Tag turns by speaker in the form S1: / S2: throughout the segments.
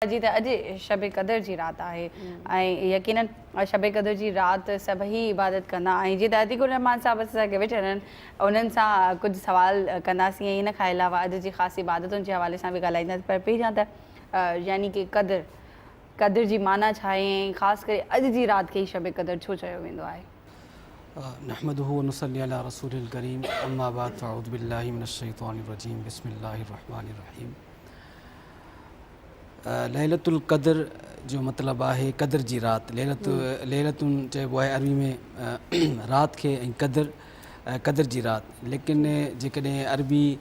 S1: جي ته اڄ شب قدر جي رات آهي ۽ يقينن شب قدر جي رات سڀئي عبادت ڪندا ۽ جي ته عتيق الرحمان صاحب اسان کي ويٺل آهن انهن سان ڪجهه سوال ڪنداسين ۽ ان کان علاوه اڄ جي خاص عبادتن جي حوالي سان به ڳالهائينداسين پر پهريان ته يعني ڪي قدر قدر جي معنيٰ ڇا آهي ۽ خاص ڪري اڄ جي رات کي ئي شب قدر ڇو چيو ويندو آهي.
S2: نحمده ونصلي علي رسوله الڪريم اما بعد فاعوذ بالله من الشيطان الرجيم بسم الله الرحمٰن الرحيم ليلة القدر جو مطلب آهي قدر جي رات. ليلة چئبو آهي عربي ۾ رات کي ۽ قدر قدر جي رات. ليڪن جيڪڏهن عربي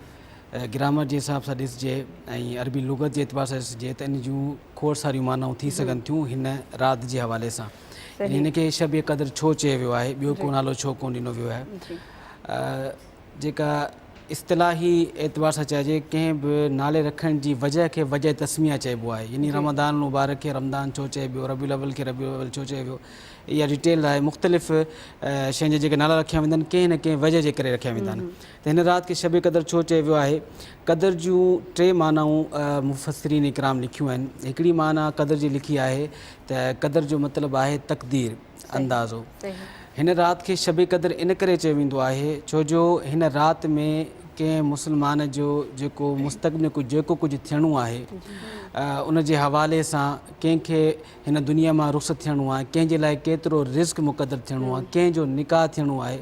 S2: گرامر جي حساب سان ڏسجي ۽ عربي لغت جي اعتبار سان ڏسجي ته ان جون کوڙ ساريون معنائون ٿي سگهن ٿيون هن رات جي حوالي سان. يعني هن کي شب قدر ڇو چيو ويو آهي، ٻيو ڪو نالو ڇو ڪونه ڏنو ويو آهي. جيڪا اصطلاحي اعتبار سان چئجي، ڪنهن به نالي رکڻ جي وجه کي وجه تسميه چئبو آهي، يعني رمضان المبارڪ کي رمضان ڇو چئبيو، ربيع الاول کي ربيع الاول ڇو چئبيو، اها ڊيٽيل آهي، مختلف شين جا جيڪي نالا رکيا ويندا آهن، ڪنهن نه ڪنهن وجه جي ڪري رکيا ويندا آهن، ته هن رات کي شب قدر ڇو چئي ويو آهي، قدر جون ٽي معنائون مفسرين ڪرام لکيون آهن، هڪڙي معنيٰ قدر جي لکي آهي ته قدر جو مطلب آهي تقدير، اندازو. هن رات کي شب قدر ان ڪري چيو ويندو آهي ڇو جو هن رات ۾ ڪنهن مسلمان جو جيڪو مستقبل ۾ جيڪو ڪجهه ٿيڻو آهي ان جي حوالي سان ڪنهن کي هن دنيا مان رخصت ٿيڻو آهي ڪنهن جي لاء ڪيترو رزق مقدر ٿيڻو آهي ڪنهن جو نڪاح ٿيڻو آهي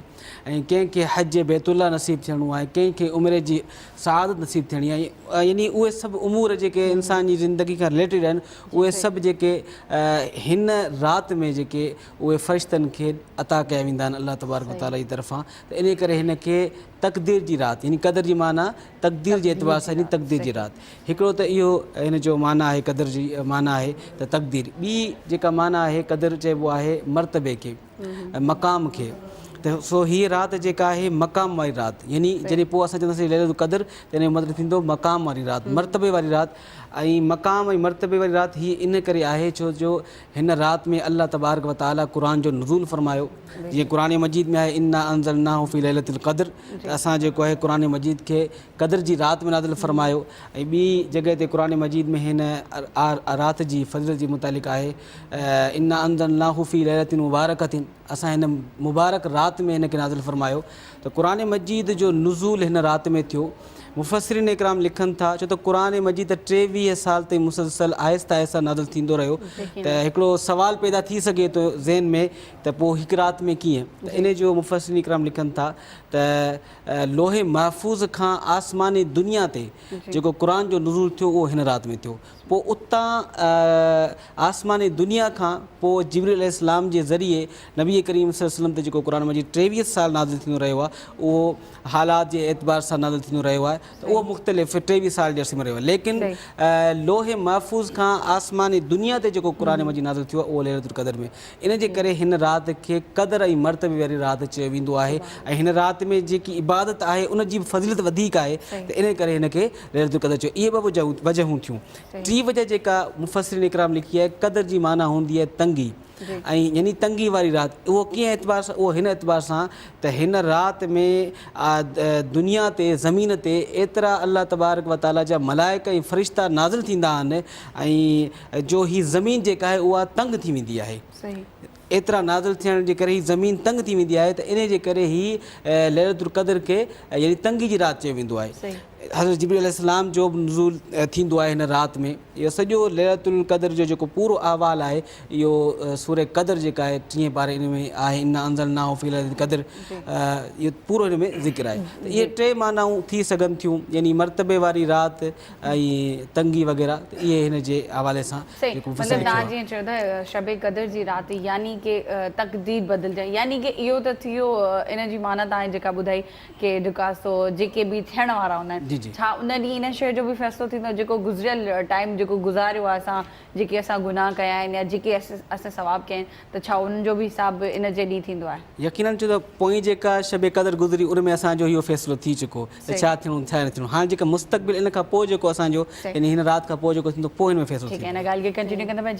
S2: ۽ ڪنهن کي حج بيت الله نصيب ٿيڻو آهي ڪنهن کي عمري جي سعادت نصيب ٿيڻي آهي يعني اهي سڀ امور جيڪي انسان جي زندگي کان رليٽيڊ آهن اهي سڀ جيڪي هن رات ۾ جيڪي اهي فرشتن کي عطا ڪيا ويندا آهن الله تبارڪ وتعالي جي طرفان ته ان ڪري هن کي تقدير جي رات يعني قدر جي معنيٰ تقدير جي اعتبار سان يعني تقدير جي رات هڪڙو ته اهو هن جو معنيٰ آهي قدر جي معنيٰ آهي ته تقدير ٻي جيڪا معنيٰ آهي قدر چئبو آهي مرتبي کي مقام کي ته سو هيء رات جيڪا آهي مقام واري رات يعني جڏهن پوء اسان چونداسين ليله القدر ته ان جو مطلب ٿيندو مقام واري رات مرتبي واري رات ۽ مقام ۽ مرتبي واري رات هي ان ڪري آهي ڇو جو هن رات ۾ الله تبارڪ و تعالي قرآن جو نزول فرمايو جيئن قرآن مجيد ۾ آهي انا انزلناه في ليله القدر ته اسان جيڪو آهي قرآن مجيد کي قدر جي رات ۾ نازل فرمايو ۽ ٻي جڳهه تي قرآن مجيد ۾ هن رات جي فضيلت جي متعلق آهي انا انزلناه في ليلة مبارڪة اسان هن مبارڪ رات ۾ هن کي نازل فرمايو ته قرآن مجيد جو نزول هن رات ۾ ٿيو مفسرين ڪرام لکن ٿا ڇو ته قرآن مجيد ته ٽيويهه سال تائين مسلسل آهستي آهستي نازل ٿيندو رهيو ته هڪڙو سوال پيدا ٿي سگهي ٿو ذهن ۾ ته پوء هڪ رات ۾ ڪيئن ته ان جو مفسرين ڪرام لکن ٿا ته لوح محفوظ کان آسماني دنيا تي جيڪو قرآن جو نزول ٿيو اهو هن رات ۾ ٿيو پوء اتان آسماني دنيا کان پوء جبريل عليه السلام جي ذريعي نبي ڪريم صلي وسلم تي جيڪو قرآن مجيد ٽيويهه سال نازل ٿيندو رهيو آهي اهو حالات جي اعتبار سان نازل ٿيندو رهيو آهي ته اهو مختلف ٽيويهه سال جي عرصي ۾ رهيو آهي ليڪن لوح محفوظ کان آسماني دنيا تي جيڪو قرآن مجيد نازل ٿيو آهي اهو ليلة القدر ۾ ان جي ڪري هن رات کي قدر ۽ مرتبي واري رات چيو ويندو آهي ۽ هن رات ۾ جيڪي عبادت آهي ان جي به فضيلت وڌيڪ آهي ته ان ڪري هن کي ليلة القدر چيو اهي ٻه وجهون ٿيون ٽي وجه جيڪا مفسرين ڪرام لکي آهي قدر جي معنيٰ هوندي آهي تنگي ۽ يعني تنگي واري رات اهو ڪنهن اعتبار سان اهو هن اعتبار سان ته هن رات ۾ دنيا تي زمين تي ايترا الله تبارڪ وتعاليٰ جا ملائڪ ۽ فرشتا نازل ٿيندا آهن ۽ جو هي زمين جيڪا آهي اها تنگ ٿي ويندي آهي ايترا نازل ٿيڻ جي ڪري هي زمين تنگ ٿي ويندي آهي ته انهي جي ڪري هي ليلة القدر کي يعني تنگي جي رات چيو ويندو آهي حضرت جبريل عليه السلام جو به نزول ٿيندو آهي هن رات ۾ اهو سڄو ليلة القدر جو جيڪو پورو احوال آهي اهو سورة قدر جيڪا آهي ٽينهين پاري ان ۾ آهي انا انزلناه في ليلة القدر اهو پورو هن ۾ ذڪر آهي ته اهي ٽي معنائون ٿي سگهن ٿيون يعني مرتبي واري رات ۽ تنگي وغيره ته اهي هن جي حوالي سان صحيح جيڪو مطلب توهان جيئن
S1: چيو ٿا شب قدر جي رات يعني ڪي تقدير بدلجڻ يعني ڪي اهو ته ٿي ويو ان جي معنيٰ توهان جيڪا ٻڌائي ڪي ڊڪاستو جيڪي به ٿيڻ وارا هوندا آهن جي جي ڇا ان ڏينهن ان شيء جو به فيصلو ٿيندو جيڪو گذريل ٽائيم جيڪو گذاريو آهي اسان جيڪي اسان گناهه ڪيا آهن يا جيڪي اسين ثواب ڪيا آهن ته ڇا انهن جو به حساب به ان جي ڏينهن ٿيندو آهي؟ يقيناً ڇو ته پوئين
S2: جيڪا شب قدر گذري ان ۾ اسان جو اهو فيصلو ٿي چڪو ته ڇا ٿيڻو ڇا نه ٿيڻو هاڻ جيڪا مستقبل ان کان پوء جيڪو
S1: اسان
S2: جو يعني هن رات کان پوء جيڪو
S1: ٿيندو
S2: پوء هن ۾ فيصلو
S1: ٿيندو.